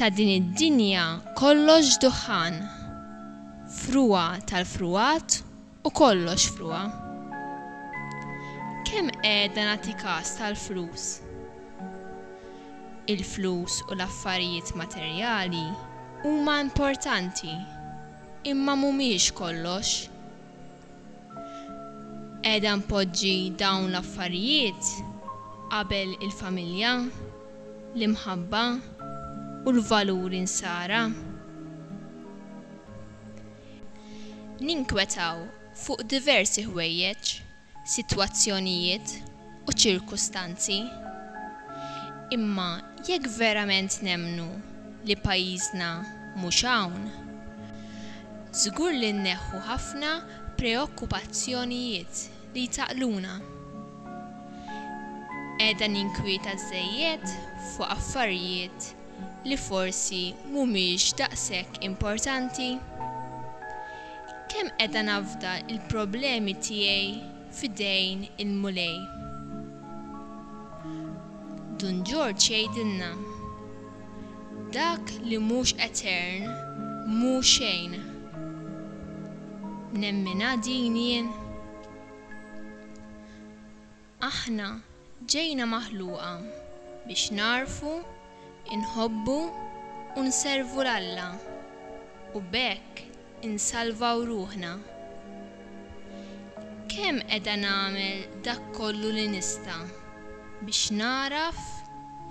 Ta' din id-dinja kollox duħħan, frugħa tal-frugħat u kollox frugħa. Kemm qiegħda nagħti kas tal-flus? Il-flus u l-affarijiet materjali huma importanti. Imma mhumiex kollox. Qiegħda npoġġi dawn l-affarijiet qabel il-familja, l-imħabba u l-valuri Nsara. Ninkwetaw fuq diversi ħwejjeġ. sitwazzjonijiet u ċirkustanzi, imma jekk verament nemmnu li pajjiżna mhux hawn, żgur li nneħħu ħafna preokkupazzjonijiet li jtaqqluna. Qiegħda ninkwieta żżejjed fuq affarijiet li forsi mhumiex daqshekk importanti? Kemm qiegħda nafda l-problemi tiegħi f'idejn il-Mulej? Dun Ġorġ jgħidilna, Dak li mhux etern mhu xejn. Nemminha din jien? Aħna ġejna maħluqa biex nagħrfu, inħobbu u nservu 'l Alla u b'hekk insalvaw ruħna. Kemm qiegħda nagħmel dak kollu li nista' biex nagħraf,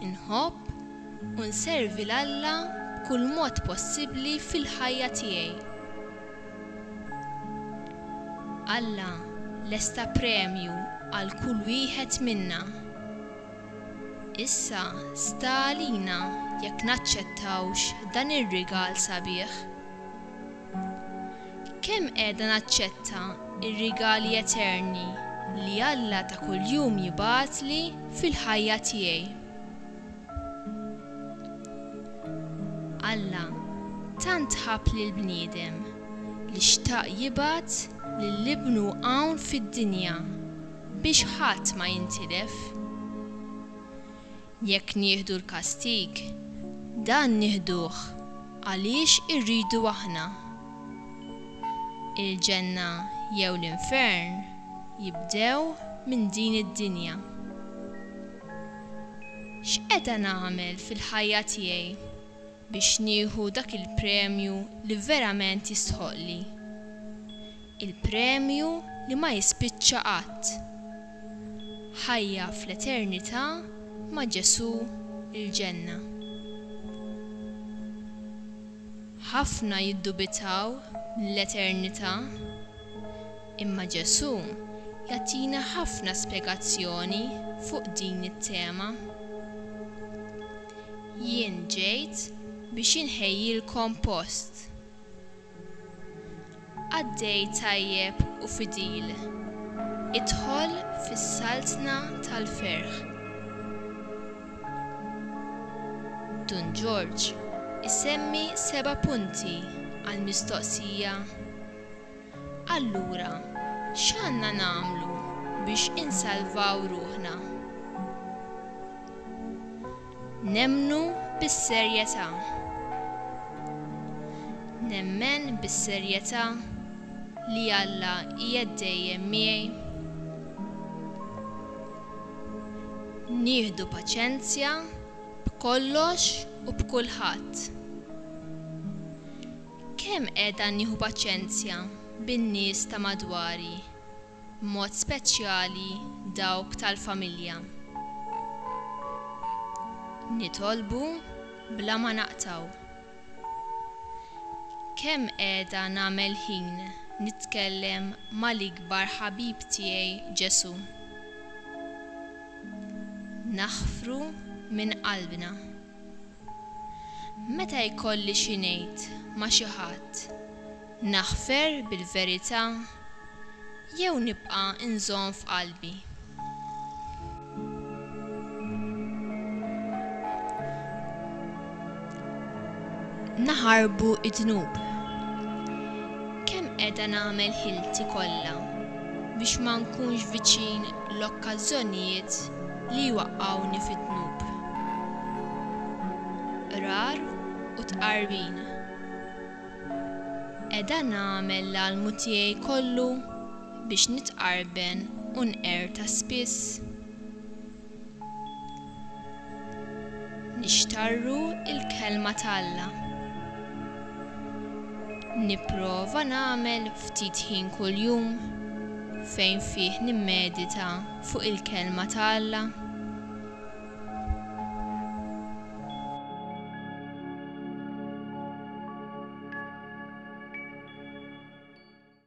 inħobb u nservi 'l Alla b'kull mod possibbli fil-ħajja tiegħi? Alla lesta premju għal kull wieħed minna. Issa sta għalina jekk naċċettawx dan ir-rigal sabiħ. Kemm qiegħda naċċetta r-rigali eterni li Alla ta' kuljum jibgħatli fil-ħajja tiegħi? Alla tant ħabb lill-bniedem li xtaq jibgħat lil Ibnu hawn fid-dinja biex ħadd ma jintilef. Jekk nieħdu l-kastig, dan nieħduh għaliex irridu aħna. Il-ġenna jew l-infern jibdew minn din id-dinja. X'qeta nagħmel fil-ħajja tiegħi biex nieħu dak il-premju li verament jistħoqqli? Il-premju li ma jispiċċa qatt. Ħajja fl-eternità ma' Ġesù, il-ġenna. Ħafna jiddubitaw mill-eternità. Imma Ġesù jagħtina ħafna spjegazzjoni fuq din it-tema. Jien ġejt biex inħejjilkom post. Qaddej tajjeb u fidil, idħol fis-saltna tal-ferħ. Dun Ġorġ isemmi seba' punti għall-mistoqsija. Allura, x'għandna nagħmlu biex insalvaw ruħna? Nemmnu bis-serjetà. Nemmen bis-serjetà li Alla qiegħed dejjem miegħi. Nieħdu paċenzja b'kollox u b'kulħadd. Kemm qiegħda nieħu paċenzja bin-nies ta' madwari, b'mod speċjali dawk tal-familja. Nitolbu bla ma naqtgħu. Kemm qiegħda nagħmel ħin nitkellem mal-ikbar ħabib tiegħi Ġesù. Naħfru minn qalbna. Meta jkolli xi ngħid ma' xi ħadd, naħfer bil-verità jew nibqa' nżomm f'qalbi? Naħarbu d-dnub. Kemm qiegħda nagħmel ħilti kollha biex ma nkunx viċin l-okkażżjonijiet li jwaqqgħuni fid-dnub. Qrar u tqarbin. Qiegħda nagħmel l-almu tiegħi kollu biex nitqarben u nqerta spiss? Nixtarru l-Kelma ta' Alla. Nipprova nagħmel ftit ħin kuljum fejn fih nimmedita fuq il-Kelma ta' Alla.